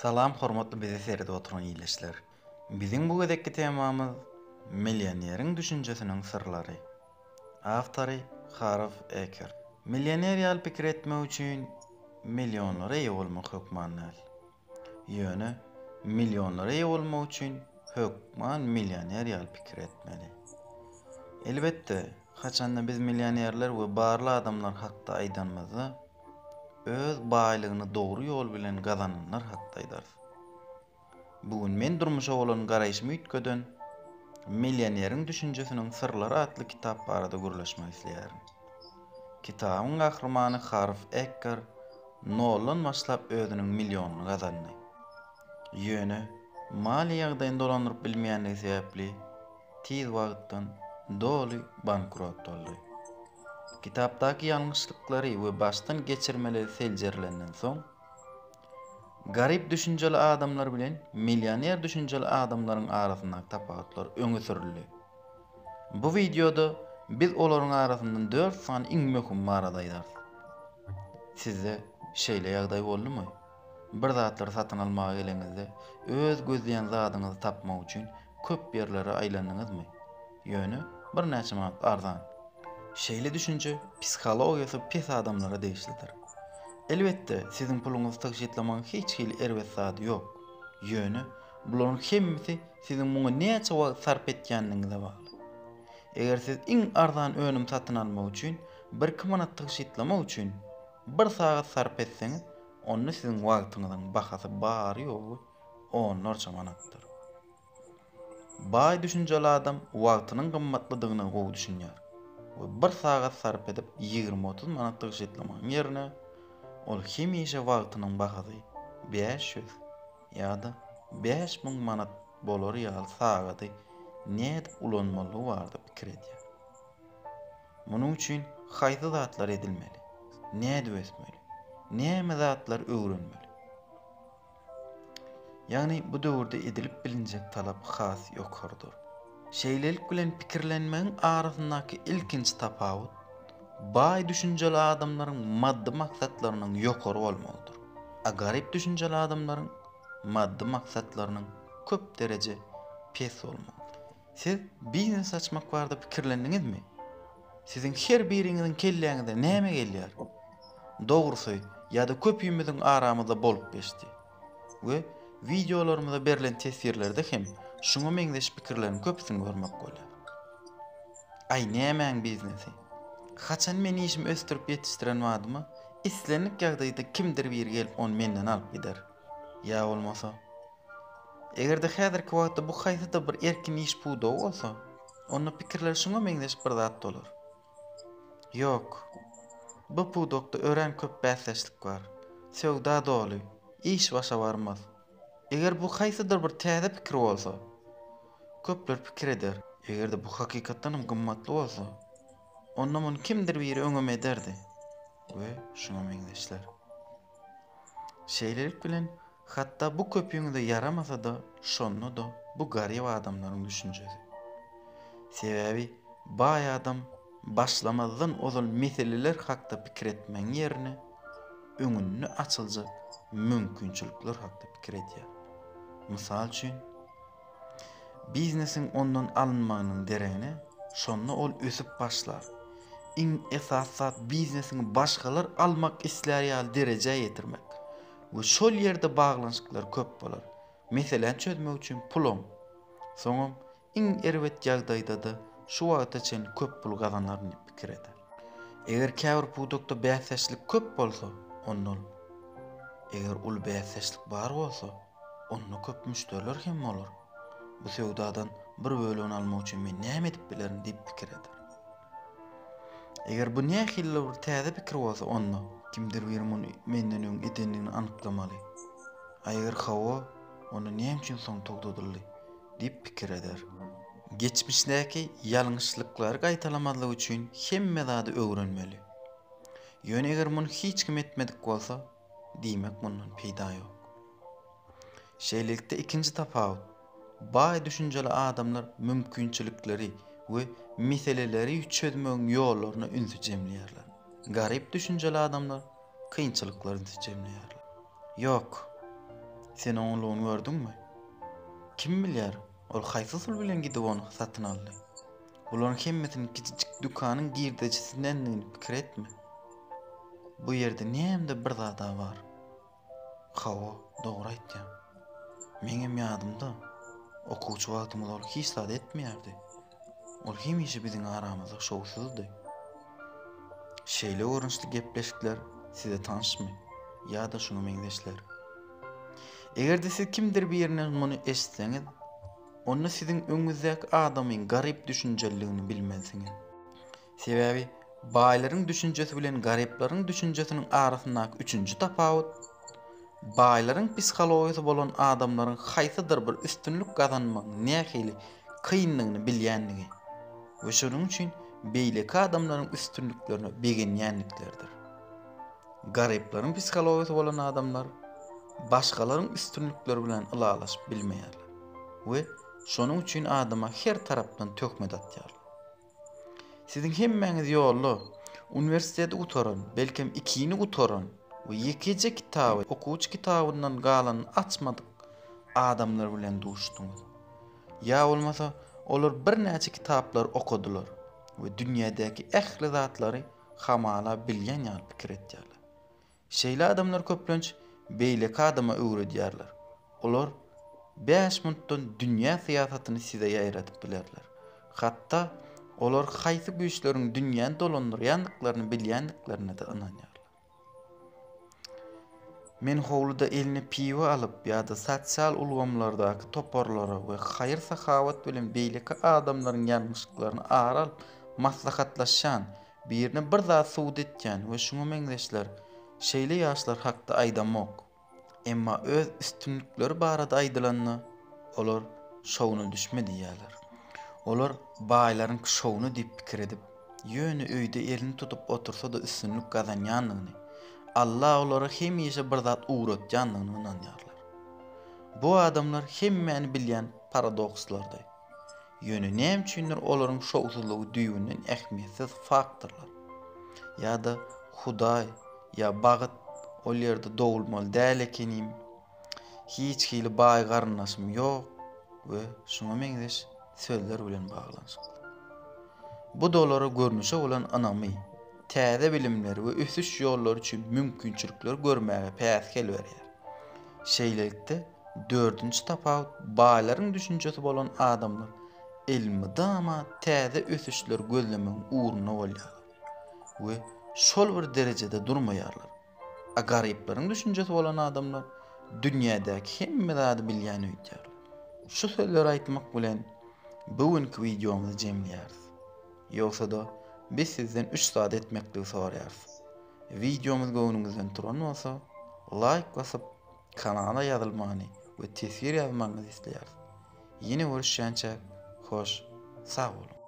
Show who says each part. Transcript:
Speaker 1: Salam hormatly bizi seredip oturan ildeşler. Biziň bu gezekki temamyz Millioneriň düşünjesiniň syrlary. Awtory Harv Ekert. Millioner ýaly pikir etmek üçin millionlara eýe bolmak hökman däl. Ýöne millionlara eýe bolmak üçin hökman millioner ýaly pikir etmeli. Elbetde Haçanda biz millionerler we barly adamlar hakda aýdanymyzda, öz baýlygyny dogry ýol bilen gazananlar hakda aýdarys. Bu gün men durmuşa bolan garaýşymy üýtgeden Millioneriň düşünjesiniň syrlary atly kitap barada gürleşmek isleýärin. Kitabyň gahrymany Harv Eker noldan başlap özüniň millionyny gazandy. Ýöne maliýe ýagdaýyny dolandyryp bilmeýändigi sebäpli Tiz wagtdan doly bankrot boldy. Kitapdaky ýalňyşlyklary we başdan geçirmeleri seljerilenden soň, garyp düşünjeli adamlar bilen millioner düşünjeli adamlaryň arasyndaky tapawutlar öňe sürüldi. Bu wideoda biz olaryň arasyndan dört sany iň möhüm barada aýdarys. Sizde şeýle ýagdaý boldumy? Bir zatlary satyn almaga geleňizde, öz gözleýän zadyňyzy tapmak üçin köp ýerlere aýlandyňyzmy? Ýöne birnäçe manat arzan. Şeýle düşünje psihologiýasy pes adamlara degişlidir. Elbetde, siziň puluňyzy tygşytlamagyň hiç hili erbet zady ýok. Ýöne bularyň hemmesi siziň muňa näçe wagt sarp etýändigiňize bagly. Eger siz iň arzan önüm satyn almak üçin birki manat tygşytlamak üçin, Bir sagat sarp etseňiz, onda siziň wagtyňyzyň bahasy bary-ýogy onlarça manatdyr. Baý düşünjeli adam wagtynyň gymmatlydygyna gowy düşünýär we bir sagat sarp edip ýigrimi-otuz manat tygşytlamagyň ýerine, ol hemişe wagtynyň bahasy bäş ýüz ýa-da bäş müň manat bolar ýaly sagady nädip ulanmalygy barada pikir edýär. Munuň üçin haýsy zatlar edilmeli? Nädip ösmeli? Näme zatlar öwrenmeli? Ýagny bu döwürde edilip bilinjek talap has ýokarydyr. Şeýlelik bilen pikirlenmegiň arasyndaky ilkinji tapawut, baý düşünjeli adamlaryň maddy maksatlarynyň ýokary bolmagydyr, a garyp düşünjeli adamlaryň maddy maksatlarynyň köp dereje pes bolmagydyr. Siz biznes açmak barada pikirlendiňizmi? Siziň her biriňiziň kelläňize näme gelýär? Dogrusy, ýa-da köpimiziň aramyzda bolup geçdi. We wideolarymyza berlen teswirlerde hem şuňa meňzeş pikirleriň köpüsini görmek bolýar. Aý nämäň biznesi? Haçan men işimi ösdürip ýetişdiren badyma, islendik ýagdaýda kimdir biri gelip ony menden alyp gider. Ýa bolmasa, Eger-de häzirki wagtda bu haýsy-da bir erkin iş pudagy bolsa, onda pikirler şuňa meňzeş bir zat bolar. Ýok. Bu pudakda örän köp bäsdeşlik bar. Söwda doly. Iş başa barmaz. Eger bu haýsydyr bir täze pikir bolsa, köpler pikir eder. Eger-de bu hakykatdan hem gymmatly bolsa, onda muny kimdir biri öňem ederdi we şuňa meňzeşler. Şeýlelik bilen, hatda bu köpüňize ýaramasa-da, şonda-da bu garyp adamlaryň düşünjesi. Sebäbi baý adam başlamazdan ozal meseleler hakda pikir etmegiň ýerine, öňünde açyljak mümkinçilikler hakda pikir edýär. Mysal üçin, Biznesiň ondan alynmagynyň deregine, şonda ol ösüp başlar. Iň esasy zat biznesiňi başgalar almak islär ýaly derejä ýetirmek we şol ýerde baglanyşyklar köp bolar. Meseläni çözmek üçin pulam, soňam iň erbet ýagdaýda-da şu wagta çenli köp pul gazanaryn diýip pikir eder. Eger käbir pudakda bäsdeşlik köp bolsa, onda ol, eger uly bäsdeşlik bar bolsa, Onda köp müşderiler hem bolar. Bu söwdadan bir bölegini almak üçin men näme edip bilerin diýip pikir eder. Eger bu nähilidir bir täze pikir bolsa, onda kimdir biri muny menden öň edendigini anyklamaly. A eger hawa, onda näme üçin soň togtadyldy? diýip pikir eder. Geçmişdäki ýalňyşlyklary gaýtalamazlyk üçin hemme zady öwrenmeli. Ýöne eger muny hiç kim etmedik bolsa, Diýmek mundan peýda ýok. Şeýlelikde ikinji tapawut, baý düşünjeli adamlar mümkinçilikleri we meseleleri çözmegiň ýollaryna ünsi jemleýärler. Garyp düşünjeli adamlar kynçylyklara ünsi jemleýärler. Ýok. Sen oňlugyny gördüňmi? Kim bilýär, ol haýsy usul bilen gidip ony satyn aldy? Bularyň hemmesiniň kiçijik dükanyň girdejisidendigini pikir etme. Bu ýerde näme-de bir zad-a bar. Hawa, dogry aýtýaň. Meňem ýadymda, okuwçy wagtymyz ol hiç zat etmeýärdi. Ol hemişe biziň aramyzda şowsuzdy. Şeýle görnüşli gepleşikler size tanşmy ýa-da şuňa meňzeşler? Eger-de siz kimdir birinden muny eşitseňiz, Onda siziň öňüňizdäki adamyň garyp düşünjeliligini bilmelisiňiz. Sebäbi baýlaryň düşünjesi bilen garyplaryň düşünjesiniň arasyndaky üçünji tapawut, baýlaryň psihologiýasy bolan adamlaryň haýsydyr bir üstünlik gazanmagyň nähili kyndygyny bilýändigi we şonuň üçin beýleki adamlaryň üstünliklerine begenýändikleridir. Garyplaryň psihologiýasy bolan adamlar başgalaryň üstünlikleri bilen ylalaşyp bilmeýärler. we şonuň üçin adama her tarapdan töhmet atýarlar. Siziň hemmäňiz ýolda uniwersiteti gutaran, belkem ikini gutaran we ýekeje kitaby, okuwçy kitabyndan galanyny açmadyk adamlar bilen duşduňyz. Ýa bolmasa olar birnäçe kitaplary okadylar we dünýädäki ähli zatlary hamala bilýän ýaly pikir etýärler. Şeýle adamlar köplenç beýleki adama öwredýärler. Olar bäş minutdan dünýä syýasatyny size ýaýradyp bilerler. Hatda olar haýsy güýçleriň dünýäni dolandyrýandyklaryny bilýändiklerine-de ynanýarlar. Men howluda eline piwo alyp ýa-da sosial ulgamlardaky toparlara we haýyr-sahawat bilen beýleki adamlaryň ýalňyşyklaryny ara alyp maslahatlaşýan Birine bir zat subut etýän we şuňa meňzeşler şeýle ýaşlar hakda aýdamok. Emma öz üstünlikleri barada aýdylanda, olar şowuna düşme diýýärler. Olar baýlaryňky şowuna diýip pikir edip, ýöne öýde elini tutup otursa-da üstünlik gazanýandygyny, Alla olara hemişe bir zat ugratýandygyna ynanýarlar. Bu adamlar hemmäni bilýän paradokslardy. Ýöne näme üçindir olaryň şowsuzlygy düýbünden ähmiýetsiz faktorlar. Ýa-da Hudaý, ýa bagyt ol ýerde dogulmaly däl ekenim, hiç hili baý garyndaşym ýok we şuňa meňzeş sözler bilen baglanyşykly. Bu da olara görnüşe bolan ynamy, täze bilimleri we ösüş ýollary üçin mümkinçilikleri görmäge päsgel berýär. Şeýlelikde, Dördünji tapawut, baýlaryň düşünjesi bolan adamlar elmydama täze ösüşleri gözlemegiň ugrunda bolýarlar we şol bir derejede durmaýarlar. A garyplaryň düşünjesi bolan adamlar dünýädäki hemme zady bilýän öýdýärler. Şu sözleri aýtmak bilen bu günki wideomyzy jemleýäris. Ýogsa-da biz sizden üç zat etmekligi soraýarys. Wideomyz göwnüňizden turan bolsa, laýk basyp, Kanala ýazylmany we teswir ýazmagyňyzy isleýäris. Ýene görüşýänçäk hoş sag boluň.